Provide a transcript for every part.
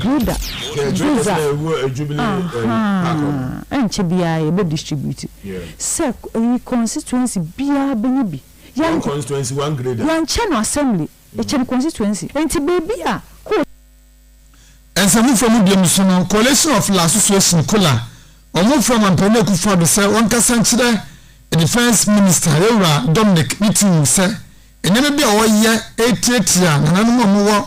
Gruda, Gyoza, ahaa, ɛnkyɛ biara yɛbɛ distribute sɛ eyi constituency biara bɛnya bi, One constituency, one grader. yɛnkyɛ no assembly, yɛkyɛ no constituency, nti baabi a ko. Nsamu fam mbeamuso no, Coalition of La Association, COLA, wɔn frɛ Mampanin Akufo-Addo sɛ wɔnkasa nkyerɛ Defence Minister, Yɛwura Dominic, ne team mu sɛ nneɛma bi a wɔyɛ retiatia nananom a wɔwɔ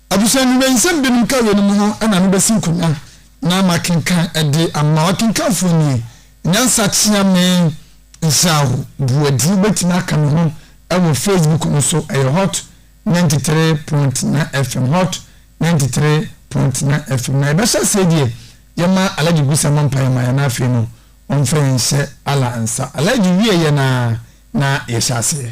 Abusua no wei nsɛm binom ka wei nom ho na no bɛsi nkonya na ma kenkan de ama wakenkanfoɔ nie, Nyansa kyea me nhyira wo Boadi wo bɛtumi aka me ho wɔ Facebook no so ɛyɛ hot ninety three point nine FM hot ninety three point nine FM na yɛbɛhyɛ aseɛ deɛ yɛma Alhaji Gusa mɔ mpaeɛ ma yɛ na afei no ɔmfa yɛn hyɛ Allah nsa Alhaji wie yɛ na na yɛhyɛ aseɛ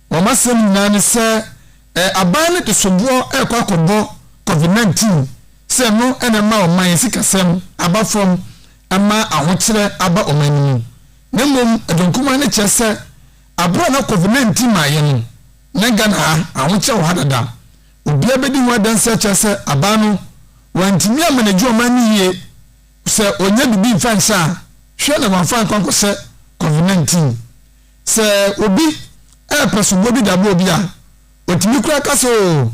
Wɔn asɛm nyinaa ne sɛ aban no de soboɔ rekɔ akɔbɔ Covid nineteen sɛ ɛno na ɛma ɔman yi sikasɛm aba fam ma ahokyerɛ aba ɔman no mu. Na mmom ɛdɔ nkumaa no kyerɛ sɛ aberɛ a na Covid nineteen maayɛ no na Ghana ha ahokyerɛ wɔ ha dada. Obiara bɛdi ho adanseɛ akyerɛ sɛ aban no wantumi amanegye ɔman no yie sɛ ɔnya biribi mfa nhyɛ a hwɛ na wamfa ankɔ ankɔhyɛ Covid nineteen. Sɛ obi repɛ soboɔ bi de aboa obi a, ɔtumi koraa ka sɛ, Oo,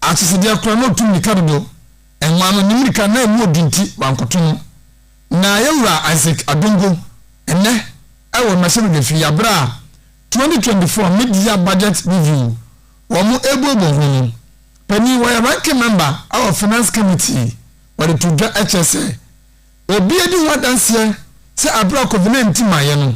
akyesedeɛ koraa na ɔtu mmirika dodo. Mmaa no, ne mmirika na ɛmu ɔdu nti wankɔto no. Na yɛn Wura Isaac Adongo, ɛnnɛ, ɛwɔ mmarahyɛbadwa fie, aberɛ a 2024 Mid-Year Budget Review wɔn rebuebue ho no, panin, ɔyɛ Ranking Member wɔ Finance Committee, ɔde too dwa kyerɛ sɛ, obi adi ho adanseɛ sɛ aberɛ a Covid-19 maeɛ no,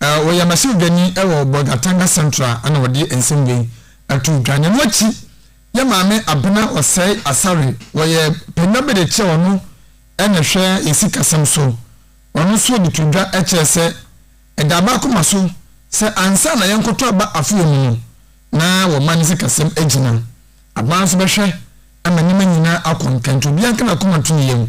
Ɔyɛ mmarahyɛbadwani wɔ Bolgatanga Central na ɔde nsɛm wei too dwa. Na ɛno akyi yɛ maame Abena Osei Asare, wɔyɛ panyin bi de kyerɛ ɔno na ɛhwɛ yɛ sikasɛm so. Ɔno nso de too dwa kyerɛ sɛ ɛda aba akoma so sɛ ansa na yɛnkɔtɔ aba afoyɛ mu no na wɔma ne sikasɛm agyina. Abena nso bɛhwɛ ma nneɛma nyinaa akɔ nkɛntɛ. Obiara nka n'akoma nto ne yam.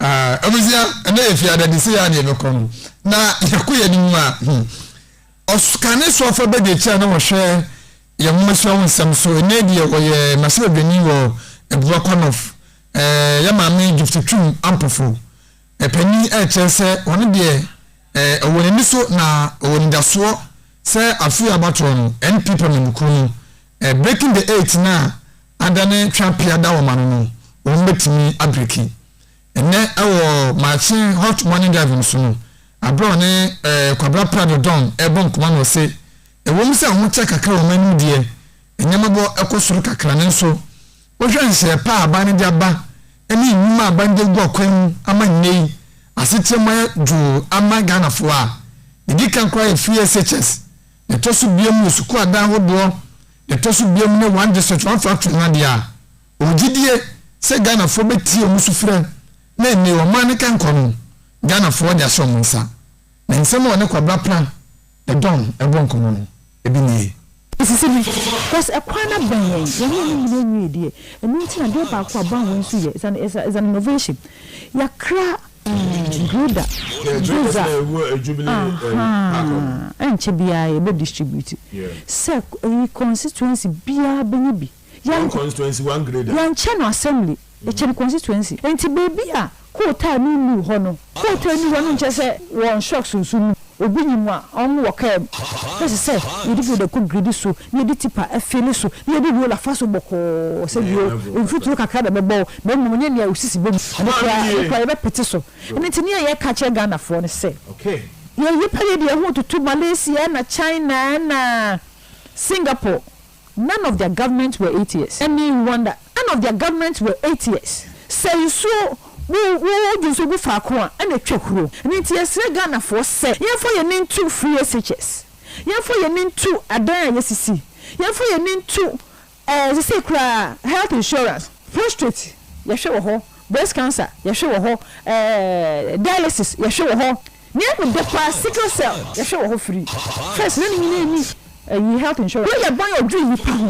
Abusua, ɛnɛ yɛ fiada de sɛ yɛ adeɛ bɛkɔ no na yɛkɔ yɛ anim a hmm, ɔkane so afa bɛdi akyira na wɔhwɛ yɛn mmomasua ho nsɛm so ɛnɛ deɛ ɔyɛ mahyɛbadwani wɔ abua kɔnɔf yɛ maame gift twum ampofo ɛpani ɛkyerɛ sɛ ɔno deɛ ɛwɔ n'ani so na ɔwɔ nidasoɔ sɛ afei abatoɔ no npp amanyɔkuo no Breaking the eight no a ada ne twa pea da wɔn ano no, wɔn betumi abreki. Ɛnnɛ wɔ Maakye Hot Morning Drive no so no, bere a ɔne Kwabra Prado Don rebɔ nkɔmmɔ no ɔse, Ɛwom sɛ ahokyɛ kakra wɔ wɔn anim deɛ, nneɛmabɔ kɔ soro kakra nanso wohwɛ nhyeɛ pa a aban no de aba ne nnwuma a aban de agu akwan mu ama nnɛ yi asetra mu ayɛ dwoo ama Ghanafoɔ a, ɛdi kan koraa yɛ free SHS Ɛtɔ so biom yɛ sukuu adan ahodoɔ na ɛtɔ so biom ne one district one factory no adeɛ a ɔwɔ gyidie sɛ Ghanafoɔ bɛtie ɔmo sufrɛ na ɛnee ɔman no kɛnkɔ no Ghanafoɔ de ahyɛ ɔmo nsa na nsɛm a ɔne Kwabra Pra ne Don ɛbɔ nkɔmɔ no ɛbi nie. Ɛsisi bi cos ɛkwan no abɛn yɛn, yɛne ɔmo nyina nwie deɛ ɛno nti na adeɛ baako a bɔn wei nso yɛ is an is an innovation yɛakra Judah Judah ahaa ɛnkyɛ biara yɛ bɛ distribute sɛ eyi constituency biara bɛnya bi yɛn yɛn kyɛ no assembly yɛ kyɛ no constituency nti baabi a kootaa no nnu hɔ no kootaa nnu hɔ no nkyɛ sɛ wɔn shocks nso nnu hɔ. Obi nyi mu a, ɔngo wɔ kaa mu. Ɛsɛ sɛ yɛde dwoda kɔ gridi so, na yɛde tipa fi ne so, na yɛde rola fa so bɔkɔɔ sɛ bio. Mfuturo kakra na ɛbɛbɔ wo, na mmom nyɛ nea wo sisi bɔ mu. Ɛno koraa, ɛno koraa, yɛbɛpete so. Ɛno nti, nea yɛka kyerɛ Ghanafoɔ ne sɛ, yɛn nnipa yɛ deɛ ɛho retutu Malaysia na China na Singapore. None of their government were atheist ɛne Rwanda none of their government were atheist sɛ nsuo wo wo wode nsuo gu faako a ɛna ɛtwa huro ɛno nti yɛsrɛ Ghanafoɔ sɛ yɛmfa yɛn ani nto free SHS yɛmfa yɛn ani nto adan a yɛsisi yɛmfa yɛn ani nto ɛɛ sesei koraa health insurance prostrate yɛhwɛ wɔ hɔ breast cancer yɛhwɛ wɔ hɔ ɛɛ dialysis yɛhwɛ wɔ hɔ. Nea ɛne dɛ paa sickle cell yɛhwɛ wɔ hɔ firi first na ne nyinaa nni ɛyi health insurance. Wei yɛ ban ɔdwiri nipa ho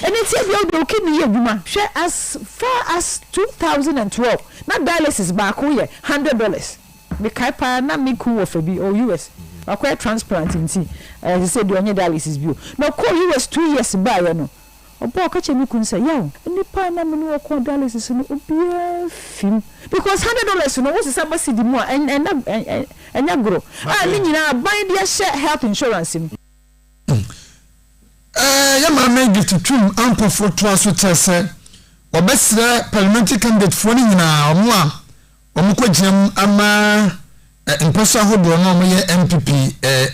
ɛnɛ nti ebia wode wo kidney yɛ adwuma hwɛ as far as two thousand and twelve na dialysis baako yɛ hundred dollars me kae paa na me kun wɔ fɛ bi ɔwɔ US wakɔyɛ transplant nti ɛɛ sɛsɛ deɛ ɔnyɛ dialysis bio na ɔkɔɔ US two years baayɛ no Ɔbaa ɔka kyerɛɛ me kun sɛ, Yaw, nnipa a na me ne wɔn kɔɔ dialysis no, obiara fim. Because hundred dollars no, wosesa ba cedi mu a, ɛnyɛ goro. A ne nyinaa aban de ahyɛ health insurance mu. Ɛɛ, yɛn Maame Gift Twum Ampofo toa so kyerɛ sɛ wɔbɛsrɛ Parliamentary candidatefoɔ no nyinaa, wɔn a Wɔkɔgyinam ama mpɔso ahodoɔ no a wɔyɛ NPP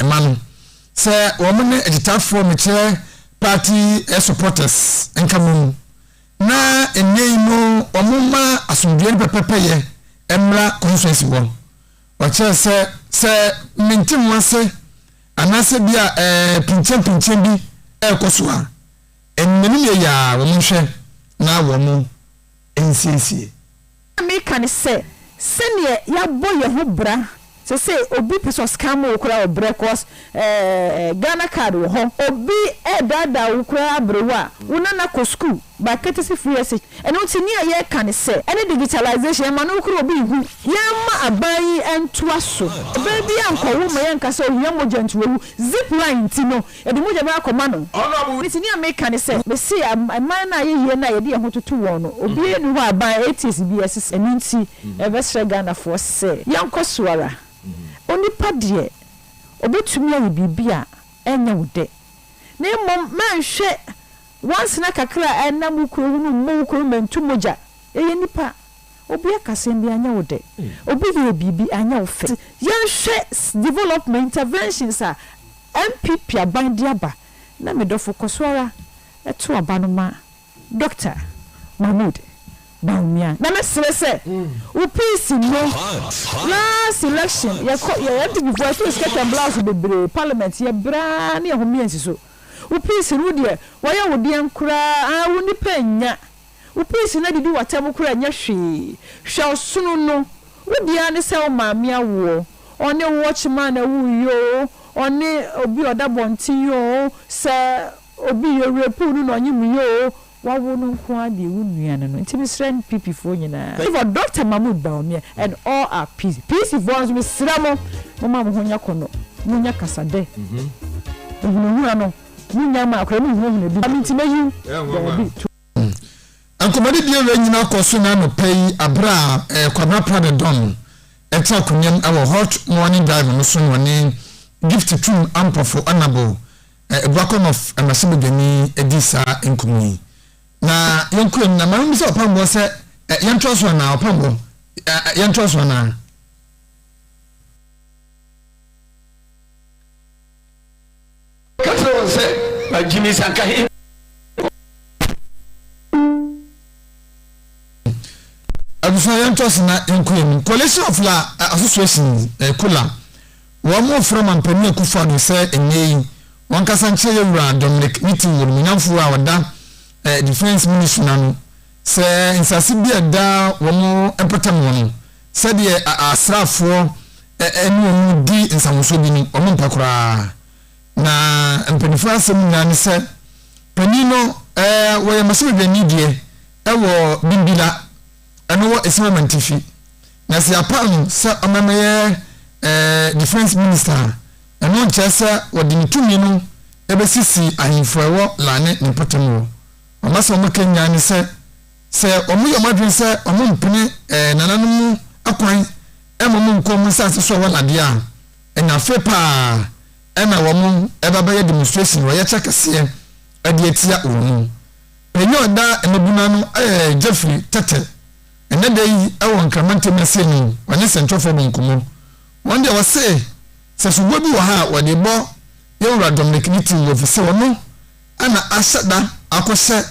ma no sɛ wɔn ne agyitafoɔ mekyerɛ party supporters nka mmom na nnɛ yi no wɔmma asomdwoeɛ no pɛpɛpɛyɛ mmra constituency hɔ. Ɔkyerɛ sɛ sɛ mente ho ase anaasɛ bi a pinkyɛmpinkyɛn bi ɛrekɔ so a, nnanim yɛ yɛ a wɔnhwɛ na wɔn nsiesie. Nea mereka ne sɛ, sɛdeɛ yɛabɔ yɛn ho bra, sɛ sɛ obi pɛ sɛ ɔscan ma wo koraa a ɔbrɛ cos Ghana card wɔ hɔ. Obi redaadaa wo koraa aberewa a, wo nana kɔ sukuu by courtesy free exchange. Ɛno nti nea yɛreka ne sɛ, ɛne digitalization, ɛmma no koraa obi nhu. Yɛmma aban yi ntoa so. Ɔbaa biara nkɔwo ma yɛnka sɛ ohia mogya nti wawu. Zip line nti no, Yɛde mogya bɛba akɔma no. Honourable. Enti nea meka ne sɛ, mese aman no a ayɛyie no a yɛde yɛn ho toto wɔn no, obiara nni hɔ a aban, ATS biara sisi. Ɛno nti, yɛbɛsrɛ Ghanafoɔ sɛ, yɛnkɔ so ara. Onipa deɛ, ɔbɛtumi ayɛ biribi a ɛnyɛ wo dɛ, na mmom mɛnhwɛ wansena kakra a ɛnam wo kuro ho no mmɔ wo kuro ho mɛntu mogya. Yɛyɛ nnipa. Obi aka asɛm bi anyɛ wo dɛ, obi yɛɛ biribi anyɛ wo fɛ. Yɛnhwɛ development interventions a NPP aban de aba na me dɔfo kɔ so ara to aba no ma Dɔkta Mahmood Bawumia na me srɛ sɛ wo piece no last election yɛ kɔ yɛ NPP foɔ yɛ too skirt and blouse bebree parliament yɛ braa ne yɛ homie nsi so wo piece no wo deɛ wayɛ wo deɛn koraa aa wo nipa nnya Wo piisi no adidi w'atam koraa nyɛ hwee. Hwɛ ɔsono no. Wo deɛ ara ne sɛ wo maame awoɔ. Ɔne watchman na ɛwoo yi oo, ɔne obi a ɔda abɔnten yi oo, sɛ obi yɛ rape no na ɔnye mu yi oo, wawo no nko ara deɛ wo nua no no. Nti mesrɛ NPP foɔ nyinaa, favour Doctor Mahmood Bawumia and all our piisi. Piisi foɔ nso mesrɛ mo, momma mo ho nyɛ kɔnɔ, monyɛ kasadɛ. Ahunahuna no, monyae ma akora mu nhunahuna bi. Nti mɛyi wo. Daabi, to. Nkɔmmɔdi biara nyinaa kɔ so na anɔpa yi abere a eh, Kwabena Prada Don no ɛte akonnam wɔ Hot Morning Dive no so na ɔne Gift Twum Ampɔfo Anabo eh, Ebuakɔm of Mmarahyɛbadwani di saa nkɔmmɔ yi. Na yɛnkuram na ma yɛmmisa ɔpambɔ sɛ eh, yɛntoa so anaa ɔpambɔ eh, eh, yɛntoa so anaa. Ɔka kyerɛɛ wɔn sɛ, Na Jimmy san ka he kɔɔ Ghana. Abusua yɛnto ase na yɛnkɔ yɛn anim. Coalition of La Association, COLA, wɔn mo frɛ Mampanin Akufo-Addo sɛ nnɛ yi wɔn kasa nkyerɛ yɛ wura Dominic Niti Woro Munyanfo a ɔda eh, Defence Ministry no ano sɛ nsase bi a ɛda wɔn mpɔtam hɔ no sɛdeɛ asraafoɔ eh, eh, ne wɔn di nsahosoɔ bi no wɔn mpɛ koraa. Na mpaninfoɔ asɛm nyinaa ne sɛ, panin no ɛɛ wɔyɛ masamedwani deɛ ɛwɔ Bimbila, ɛno wɔ Esawa Mantifi. Na sɛ yɛapa no sɛ ɔmɛmɛyɛ ɛɛ defense minister a, ɛno nkyerɛ sɛ wɔde ne tumi no ɛbɛsisi ahemfo ɛwɔ la ne ne mpɔtam wɔ. Wɔn asɛm wɔn ka nyinaa ne sɛ, sɛ wɔn yɛ wɔn adwene sɛ wɔn mpene ɛɛ nananom akwan ɛma wɔn nkɔ wɔn nsaase so ɛwɔ la deɛ a, na afei paa na wɔn reba abɛyɛ demonstration na wɔyɛ kyɛ kɛseɛ de atia wɔn. Pɛ yi a ɔda mmabunu ano yɛ Jeffrey Tete. Ɛnɛ da yi wɔ Nkrama Ntam Ase no ɔne sɛnkyerɛfoɔ bɔ nkɔmmɔ. Wɔn deɛ wɔse sɛ soboɔ bi wɔ ha a wɔde bɔ yɛn wura Dominic ne team no ɛfiri sɛ ɔno na ahyɛ da akɔhyɛ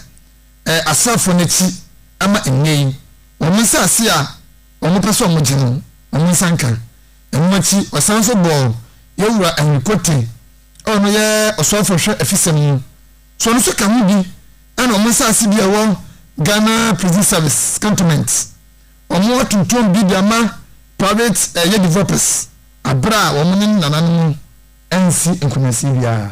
asraafoɔ no akyi ama nnɛ yi wɔn nsase a wɔpɛ sɛ wɔgye no wɔn nsa nka. Ɛno akyi, ɔsan nso bɔɔ yɛn Wura Henry Cote a ɔno yɛ ɔsɔɔfo hwɛ afisɛm no, so ɔno nso ka ho bi ɛna ɔmo nsaase bi a ɛwɔ Ghana Prison Service Cantonment, ɔmo atontom bi de ama private ɛyɛ developers aberɛ a ɔmo ne ne nananom ansi nkɔmansie biara.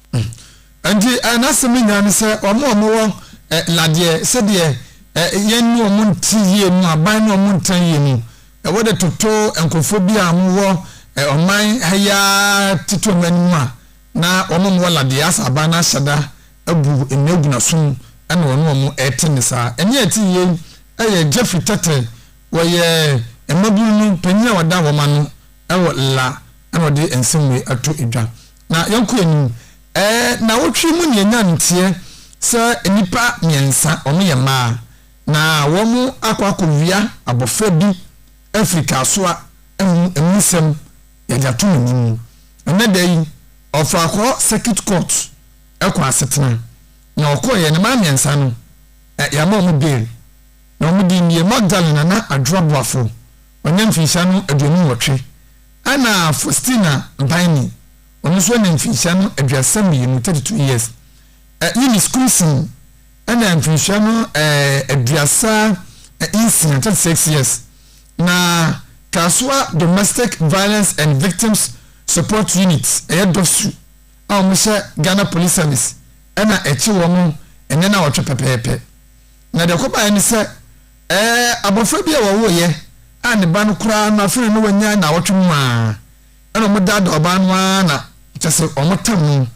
Nti n'asɛm no nyinaa ne sɛ wɔn a wɔwɔ ladeɛ sɛdeɛ yɛn ne wɔn nte yie mu, aban ne wɔn nta yie mu, wɔde toto nkurɔfoɔ bi a wɔwɔ ɔman ha yi ara tete wɔn anim a na wɔn a wɔwɔ ladeɛ asɛ aban no ahyɛ da abu nnaguna so mu ɛna wɔn wɔn ɛte ne saa. Ɛne a ɛte yie ɛyɛ Jeffrey Tete, wɔyɛ mmabunu no panyin a wɔda wɔn ano ɛwɔ la ɛna ɔde nsɛm wei ato dwa. Na yɛnkɔ anim. Ɛɛ, nnawɔtwe mu nea ɛnyaa no teɛ sɛ nnipa mmiɛnsa, wɔyɛ mmaa, na wɔakɔ akɔwia abɔfra bi afiri kaasoa mu, ɛmu nsɛm yɛde ato mo anim. Ɛnnɛ da yi, Ɔfrakɔɔ Circuit Court kɔɔ asetena, na wɔkɔeɛ no, mmaa mmiɛnsa no, yɛama wɔn bail, na wɔn din yɛ Magdalene Nana Adwoa Boafo, ɔnya mfinhyia no aduonu nwɔtwe, Ɛna Faustina Baini, ɔno nso anya mfinhyia no aduasa mmienu, 32 years. Ɛ, Eunice Kumsing anya mfinhyia no ɛ, aduasa ɛ, nsia, 36 years. Na Kasoa Domestic Violence and Victims Support Unit, ɛyɛ DOVSU, a wɔhyɛ Ghana Police Service ɛna ɛkye wɔn ɛnɛ nawɔtwe pɛpɛɛpɛ. Na deɛ ɛkɔbaeɛ ne sɛ, Ɛɛ, abofra bi a wɔwoeɛ a ne ba no koraa no afei na na wanya nnawɔtwe mu ara, ɛna wɔdaadaa ɔbaa no ara na kyerɛ sɛ wɔtam no,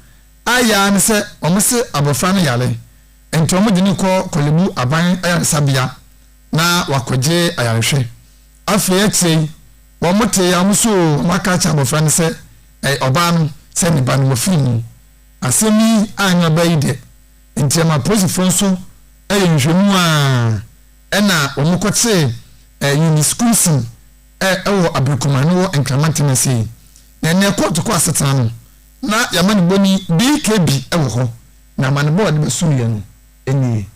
ayɛ ara ne sɛ wɔse abofra no yare, enti wɔde no kɔ Korle Bu Aban Ayaresabea na wakɔgye ayarehwɛ. Afei akyire yi, wɔtee a wɔsoo wɔn aka akyerɛ abofra no sɛ, ɛɛ, ɔbaa no sɛ ne ba no wɔfiri mu. Asɛm yi anyɛ ɔbaa yi dɛ. Enti ɛma apolisifoɔ nso yɛ nhwehwɛmu a ɛna wɔkɔtee Eunice Koomson wɔ Aberekumaa no wɔ Nkraman Tennessee. Na ɛnɛ kɔɔto kɔ asetena no na yɛama no bɔni BKB wɔ hɔ na amanebɔ a ɔde bɛsonoeɛ no nie.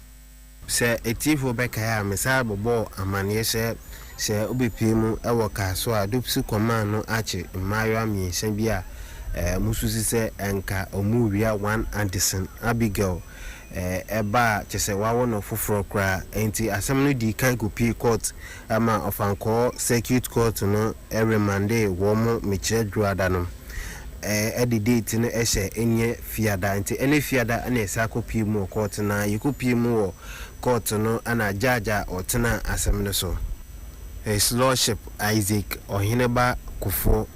Sɛ atiefoɔ bɛkae a, mesan bɛbɔɔ amanneɛ sɛ Sɛ wobepue mu wɔ kar so a, Dopsu kɔmaa no akye mmaayewa mmiɛnsa bi a mususu sɛ anka wɔrewia one adesin, Abigail, ba a kyerɛ sɛ wɔawo no foforɔ koraa. Enti asɛm no dii kan kɔpuee kɔɔt ma Ɔfankɔɔ Circuit Court no remandee wɔn mekyerɛ Dwoada no de date no hyɛ ɛnyɛ Fiada. Enti ɛnnɛ Fiada na yɛsan kɔpue mu wɔ kɔɔt no ara. Yɛkɔpuee mu wɔ Kɔɔto no na judge a ɔtena asɛm no so, His Lordship Isaac Ɔheneba Kufuor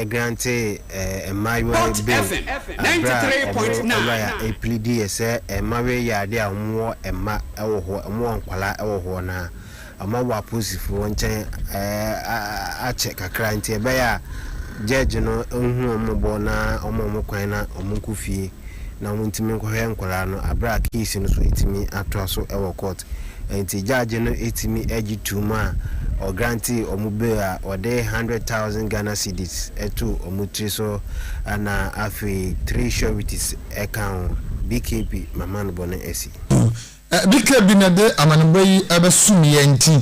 grantee mmaayewa yi bail bere a wɔn lɔya pleadiiɛ sɛ mmayewa yi yɛ adeɛ a wɔwɔ mma wɔ hɔ, wɔwɔ nkwadaa wɔ hɔ no a, ama wɔ apolisifoɔ nkyɛn akyɛ kakra nti ɛbɛyɛ a gyɛɛgye no nhu wɔn mmɔbɔ na ɔma wɔn kwan na wɔn nkɔ fie na wɔn ntumi nkɔhwɛ nkwadaa no aberɛ a case no so ɛtumi atoa so wɔ court nti gyɛɛgye no ɛtumi gye tuum a ɔgrante wɔn bail a ɔde hundred thousand Ghana cedis to wɔn tiri so ɛna afei three sureties ɛka ho BKP Maman Bɔne Asi. Ɛde ka bi na ɛde amanebɔ yi abɛsom yɛn nti,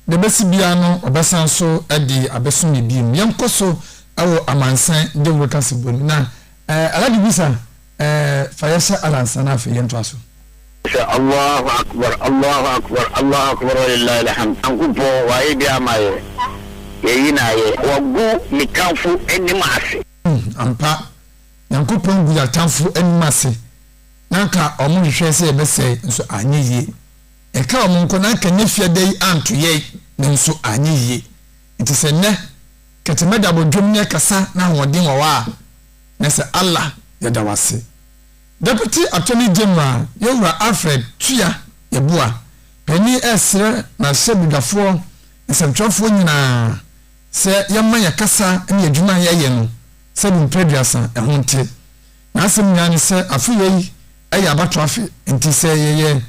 deɛ ɛbɛsi biara no ɔbɛsan so de abɛsom yɛn bio. Yɛnkɔ so wɔ amansan dawuro kasabɔ mu. Na Alhaji Bisa, fa yɛ hyɛ Allah nsa na afei yɛntoa so. Sɛ Allahu Akbar, Allahu Akbar, Allahu Akbar Walillahi Alhamd, Nyankopɔn w'ayɛ bi ama yɛ, yɛyi no ayɛ. Wagu me tamfo anim ase. Ampa, Nyankopɔn gu yɛ atamfo anim ase. na anka wɔhwehwɛɛ sɛ yɛbɛsɛe nso anyɛ yie. Ɛnka wɔn nko na anka nnɛ fiada yi anto yɛn no nso anyɛ yie. Nti sɛ nnɛ kɛtɛmɛ da abɔdwam ne ɛkasa na ahoɔden wɔ hɔ a, na sɛ Allah yɛda wo ase. Deputy Attorney General yɛn wura Alfred Tua Yeboah panin ɛresrɛ mmarahyɛbedwafoɔ nsɛmtwerɛfoɔ nyinaa sɛ yɛmma yɛn kasa ne yɛn adwuma a yɛyɛ no sɛdeɛ mprɛduasa ɛho nte. N'asɛm nyinaa ne sɛ afe yei yɛ abatoɔ afe, nti sɛ yɛyɛ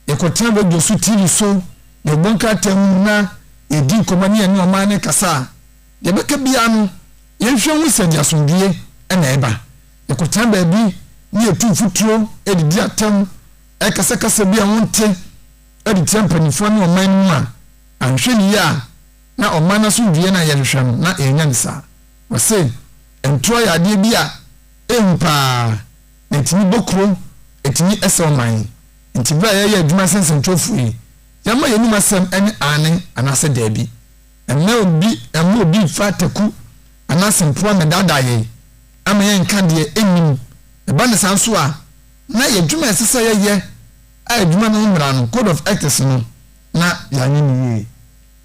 yɛkɔtena radio so, TV so, yɛbɔ nkrataa mu na yɛdi nkɔmmɔ ne yɛne ɔman no rekasa a, deɛ ɛbɛka biara no yɛnhwɛ hu sɛ ɛde asomdwoeɛ na ɛba. Yɛkɔtena baabi ne yɛtu mfuturo de di atɛm, ɛkasa kasa bi a wonte de tia mpanimfoɔ ne ɔman no mu a, anhwɛ no yie a na ɔman no asomdwoeɛ no a yɛhwehwɛ no na yɛnnya no saa. Wɔse ntorɔ yɛ adeɛ bi a ɛhu paa na ɛtumi bɔ kuro, ɛtumi sɛ ɔman. Nti berɛ a yɛreyɛ adwuma sɛ nsɛntwerɛfoɔ yi, yɛmma yɛn anom asɛm ne aane anaasɛ daabi. Mma obi mma obi mfa ataku anaa asɛmfua mmɛdaadaa yɛn ama yɛnka deɛ ɛnnim. Ɛba no saa nso a, na yɛ adwuma a ɛsɛ sɛ yɛyɛ a adwuma no ho mmara no, Code of Ethics no, na yɛanyɛ no yie.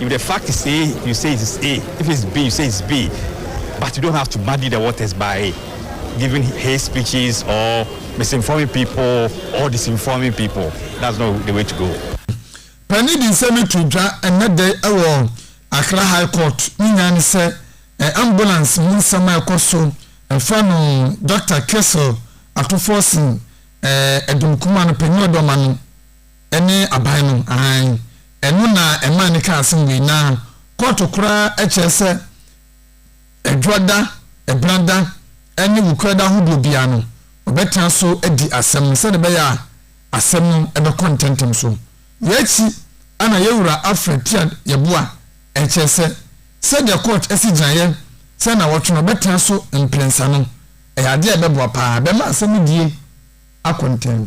If the fact is A, you say it is A, if it is B, you say it is B, but you don't have to muddy the waters by giving hate speeches or misinforming people or disinforming people. That's not the way to go. Panin de nsɛm yi to dwa ɛnnɛ da yi wɔ Accra High Court, ne nyinaa ne sɛ ambulance mu nsɛm a ɛkɔ so ɛfa no Dɔkta Kessel Atuforsen, Adum Kumah no panin a ɔde ɔma no, Ɛne aban no aane. Ɛno na ɛmaa ne kaa asem wei na kɔɔto koraa ɛkyerɛ sɛ Adwoa da, Ɛbena da ɛne Wukuraa da ahodoɔ biara no ɔbɛtena so adi asem no sɛdeɛ ɛbɛyɛ a asem no ɛbɛkɔ ntɛntɛm so. Wei akyi ɛna Yɛwura Alfred Tiad Yeboah ɛkyerɛ sɛ sɛdeɛ kɔɔt ɛsi gyinaeɛ sɛ nnawɔtwe no ɔbɛtena so mprensa no ɛyɛ adeɛ a ɛbɛboa paa ɛbɛma asem no die akɔ ntɛm.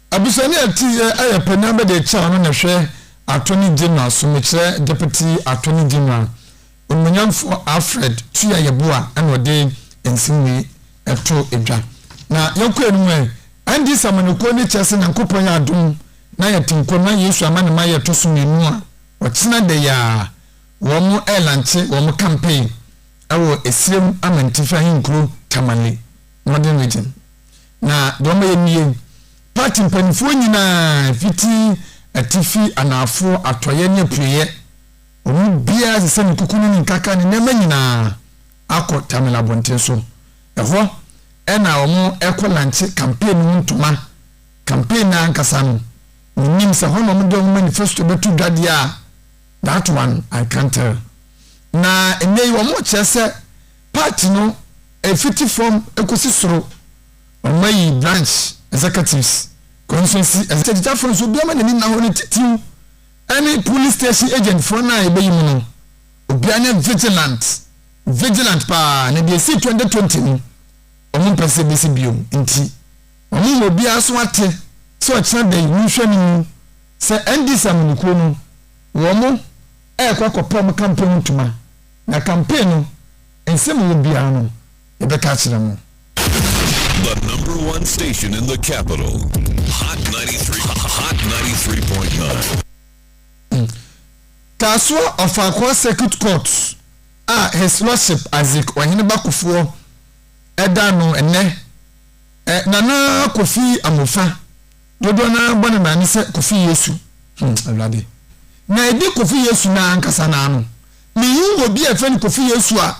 Abusua no yɛ tiyɛ ayɛ pɛ na bɛde kyɛw no na ɛhwɛ Attorney General so mekyerɛ Deputy Attorney General Onuonyamfoɔ Alfred Tua Yeboah na ɔde nsem wei to dwa. Na yɛnkɔ anim ɛ, NDC Amanyɔkuo no kyɛ sɛ Nyankopɔn yɛ adom na yɛte nkwa mu na Yesu ama ne mayɛ ɛtɔ so mmienu a ɔkyena da yi a wɔn ɛɛlanche wɔn campaign ɛwɔ Esirem Amantifi Ahenkuro Tamale Northern Region Na deɛ wɔyɛ nie, Party mpanimfoɔ nyinaa, fiti atifi, anaafoɔ, atɔeɛ ne apueeɛ, wɔn mu biara asɛ sɛ ne kuku ne ne nkaka ne nneɛma nyinaa akɔ Tamale abɔnten so. Ɛhɔ na wɔkɔ lankye campaign no mu ntoma. Campaign no ara ankasa no, menim sɛ ɛhɔ na wɔde wɔn manifesto bɛto dwa deɛ a, that one I can't tell. Na ɛnnɛ yi wɔkyerɛ sɛ Part no ɛfiti fam kɔsi soro Ɔma yi branch executives constituency executigyafo no so obiara n'ani nna hɔ ne titiw ɛne police station agent foɔ no a ɛbɛyi mu no obiara nyɛ vigilant vigilant paa na deɛ ɛsii 2020 no wɔn mpɛ sɛ ɛbɛsi bio nti wɔn wɔ obiara so ate sɛ ɔkyena da yi monhwɛ no mu sɛ NDC amanikuo no wɔn ɛrekɔ akɔpɛ wɔn kampɔn mu tuma Na campaign no nsɛm ɛwɔ biara no yɛbɛka akyerɛ mo. The number one station in the capital, Hot 93, Hot 93.9. Kasoa Ɔfaakoa Circuit Court a His Lordship Isaac Ɔhene Ba Kofoɔ da no nnɛ, Nana Kofi Amofa, dodoɔ no ara bɔ ne nan no sɛ Kofi Yesu, hmm, Awurade, na ɛdi Kofi Yesu no ara ankasa no ara no, Minhu obi a yɛfrɛ no Kofi Yesu a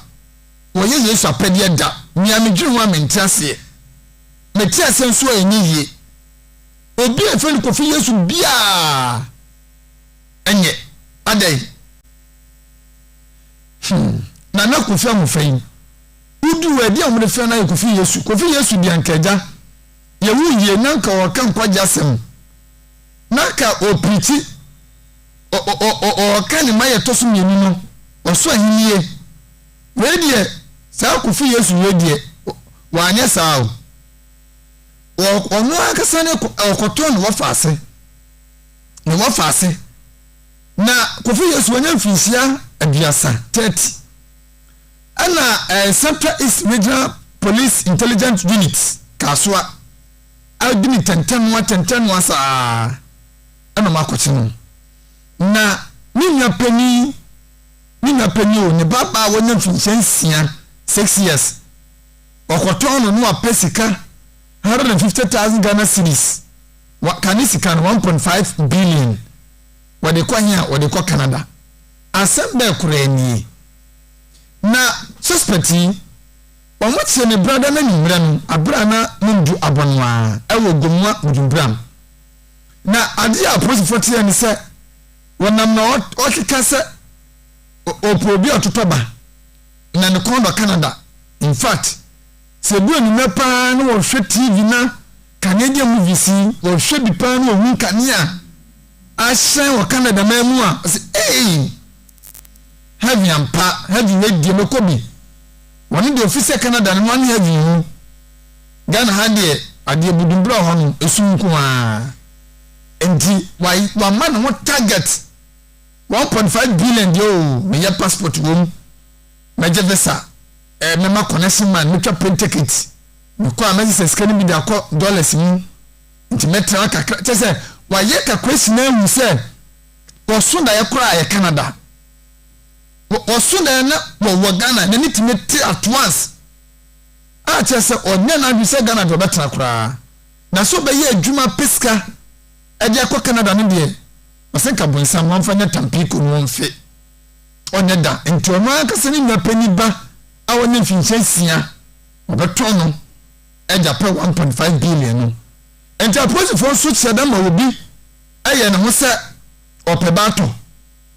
ɔyɛ Yesu apɛdeɛ da. Nea medwene ho a mente aseɛ. Mete aseɛ nso a ɛnyɛ yie. Obi a yɛfrɛ no Kofi Yesu biara nyɛ. Adɛn? Hmm. Nana Kofi Ahofa yi, woduu hɔ ɛdeɛ a wɔde frɛ no ayɛ Kofi Yesu. Kofi Yesu deɛ anka agya yɛwo yie na anka ɔreka nkwagye asɛm na anka ɔreprikyi. ɔɔka ne mayɛ ɛtɔ so mmienu no, ɔso ahennie. Wei deɛ, saa kofi Yesu wei deɛ, wanyɛ saa o. Ɔno ankasa ne ɔkɔtɔn ne wɔfa ase. Ne wɔfa ase. Na kofi Yesu wanya mfinhyia aduasa, 30. Ɛna eh, Central East Regional Police Intelligence Unit, Kasoa, adi ne tɛntɛnoa tɛntɛnoa saa. na ɔakɔtse no, na ne nua panyin, ne nua panyin o, ne babaa a wanya mfinhyia nsia, six years, ɔkɔtɔn no na ɔapɛ sika one hundred and fifty thousand Ghana cedis, wa, ka ne sika no one point five billion, wɔde kɔ hen a? Wɔde kɔ Canada. Asɛm bɛɛ koraa nie. Na suspect yi, wɔkyee ne brada no anwummerɛ no, aberɛ a na Momdu abɔ no ara, ɛwɔ Gomoa Mudumburam. Na adeɛ a apolisifoɔ teɛ ne sɛ wɔnam na ɔkeka sɛ ɔpɛ obi a ɔtotɔ ba na ne kɔn dɔ Canada. In fact, sɛ ɛdu anwummerɛ paa na wɔhwɛ TV na kanea deɛ movies yi, wɔhwɛ bi paa na wɔhu kanea ahyɛn wɔ Canada man mu a, ɔsɛ ei, heaven ampa, heaven wei deɛ mɛkɔ bi. Wɔne deɛ ɔfiri sɛ Canada no, wɔne heaven mu. Ghana ha deɛ adeɛ budu berɛ hɔ no ɛsum nko ara nti wama ne ho target one point five billion deɛ oo meyɛ passport wɔ mu mɛgye visa ɛɛ mɛma connection man mɛtwa plane ticket mekɔ a mɛsesɛ sika no bi de akɔ dollars mu nti mɛtra kakra kyɛ sɛ wayɛ calculation ahu sɛ wɔso daeɛ koraa yɛ Canada wɔso daeɛ na wɔwɔ Ghana n'ani tumi te at once a kyerɛ sɛ ɔnyɛ n'adwene sɛ Ghana deɛ ɔbɛtena koraa na sɛ ɔbɛyɛ adwuma apɛ sika de akɔ Canada no deɛ ɔse nka bonsam no ɔmfa nyɛ tampiiko no ɔmfe ɔnyɛ da nti ɔno ankasa ne nua panyin ba a wanya mfinhyia nsia ɔbɛtɔn no de apɛ 1.5 billion no nti apolisifoɔ nso kyerɛ dɛ ma obi yɛ ne ho sɛ ɔpɛ ba atɔ.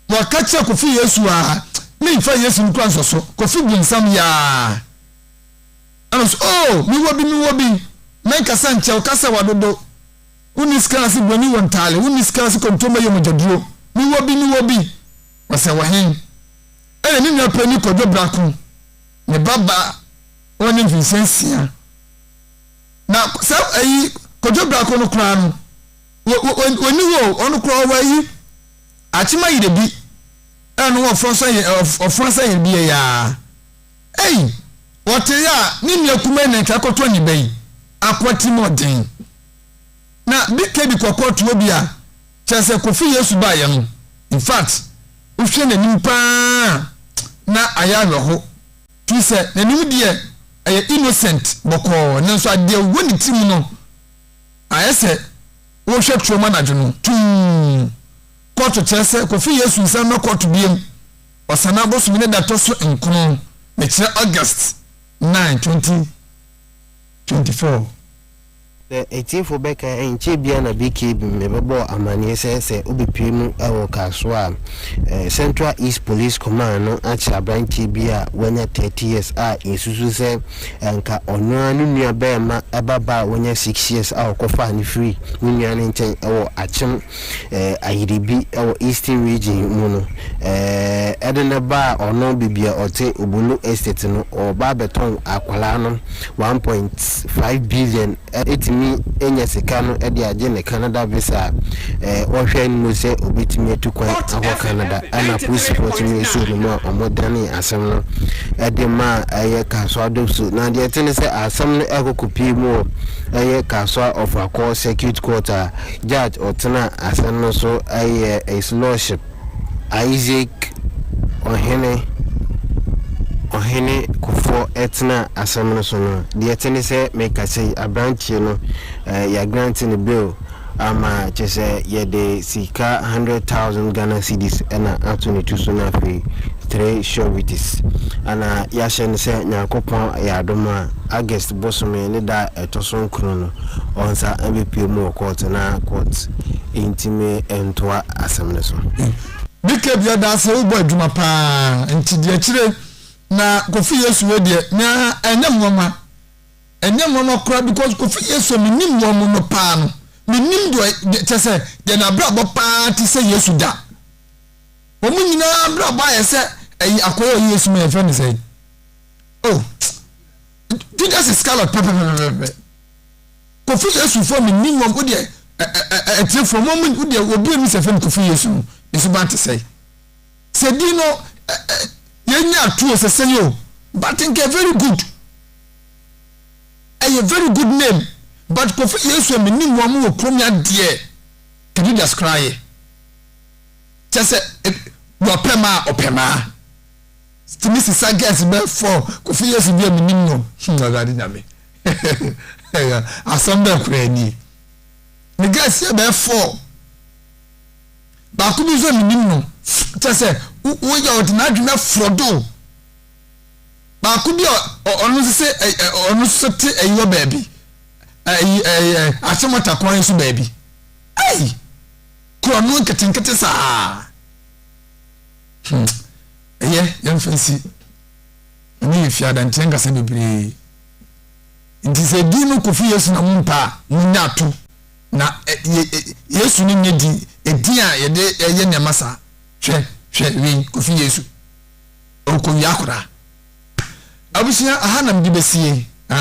Wɔka kyerɛ Kofi Yesu a me nfa Yesu no kura nsɔ so. Kofi bu nsam yaa. Ɛna so oh me wɔ bi me wɔ bi. Mɛ nkasa nkyɛ wo kasa wa dodo. Wo ni sika ase broni wɔ ntaale wo ni sika ase kontomma yɛ mogya duro. Me wɔ bi me wɔ bi. Ɔsɛ wɔ hen. Ɛna ne nua pɛ ni kɔdwo brako ne ba ba wɔ ne mfinhyɛ nsia. Na sɛ ayi kɔdwo brako no kura no wɔ wɔ wɔ ni wɔ ɔno kura ɔwɔ ayi. Akyema yiredi a na wɔfra sɛ yɛ ɔf ɔfra sɛ yɛn deɛ yaa. Ei! Ɔtee a ne nua kumaa yi na ɛtaa kɔtɔ ne ba yi ako atirimuɔden. Na bk de kɔkɔɔ toɔ bi a kyerɛ sɛ Kofi Yesu baeɛ no in fact wohwɛ n'anim paa a na ayɛ awerɛho firi sɛ n'anim deɛ ɛyɛ innocent bɔkɔɔ nanso adeɛ wɔ ne tirim no ayɛ sɛ Wohwɛ turom anadwo no, tumm! Kɔɔto kyerɛ sɛ Kofi Yesu nsa mmra kɔɔto biam. Ɔsanaa bosome no da ɛtɔ so nkron, mekyerɛ August 9, 2024. Sɛ atiefo bɛka a, ɛnkyɛe biara na Big Cabin bɛbɔɔ amanneɛ sɛ sɛ obepue mu wɔ Kasoa a, Central East Police Command no akyere aberanteɛ bi a wanya 30 years a yɛsusu sɛ anka ɔno ara ne nua barima ba ba a wanya six years a ɔkɔfaa no firii ne nua no nkyɛn wɔ Akyem Ayiribi wɔ Eastern Region mu no de no baa ɔno baabi a ɔte, Obolo Estate no, ɔreba abɛtɔn akwadaa no one point five billion Etumi nya sika no de agye ne Canada visa a ɔhwɛ anim sɛ obetumi atu kwan akɔ Canada. Ɛna polisifo tumi suu no ma wɔdanee asɛm no de maa ɛyɛ Kasoa Dopso. Na deɛ ɛte ne sɛ asɛm no ɛrekɔ kɔpue mu wɔ ɛyɛ Kasoa Ɔfrakɔɔ Circuit Court a Judge ɔtena asɛm no so yɛ His Lordship, Isaac Ɔhene, Ɔhene Kufuor ɛtena asɛm no so no, deɛ ɛte ne sɛ mekasa yi, abranteɛ no eh, yɛagrante ne bill ama kyɛ sɛ yɛde sika 100,000 Ghana cedis ɛna ato ne tu so no afei 3 sureties ana yɛahyɛ no sɛ Nyankopɔn yɛ adom a August bosome ne da a ɛtɔ so nkron no, ɔnsa mbɛpue mu wɔ kɔɔt na kɔɔt ntumi ntoa asɛm no so. Mika bia daa sɛ wobɔ adwuma paa nti deɛ akyire na Kofi Yesu wei deɛ naa ɛnyɛ nwanwa ɛnyɛ nwanwa koraa because Kofi Yesu menim wɔn no paa no menim deɛ kyɛ sɛ deɛ n'abrabɔ paa te sɛ Yesu da wɔn nyinaa abrabɔ ayɛ sɛ ɛyi akɔyɛ ɔyɛ Yesu ma yɛfrɛ ne sɛ oh Judas Iscariot pɛpɛpɛpɛpɛ. Kofi Yesu fo mi ni wɔn o deɛ ɛtire fo wɔn mi o deɛ obi mi sɛ fɛn Kofi Yesu no ne so ba te sɛ sɛ di no yɛn nyɛ atuo sɛ sɛ yɛ o but nkɛ very good ɛyɛ very good name but Kofi Yesu mi ni wɔn wɔ kurom ya deɛ ka Judas koraa yɛ kyɛ sɛ wɔpɛ maa ɔpɛ maa. Tumi si sa girls bɛ four kofi yesu bi a menim no hmm awurade nyame asɛm bɛn koraa nie ne girls yɛ bɛ four baako bi nso a menim no kyɛ sɛ woyɛ ɔde n'adwene aforɔ do baako bi a ɔno nso sɛ ɔno nso te ayi wɔ baabi ayi ɛɛ ahyɛmɔta kwan nso baabi ayi korɔ no nketenkete saa. Hmm. Ɛyɛ yɛmfa nsi. Ɛno yɛ fie adanteɛ nkasa bebree. Nti sɛ din no kofi Yesu na mompa a, monya ato. Na Yesu no nyɛ din, ɛdin a yɛde ɛyɛ nneɛma saa. Hwɛ, hwɛ, wei, kofi Yesu. Ɔkɔwia koraa. Abusua, aha nam de bɛsie.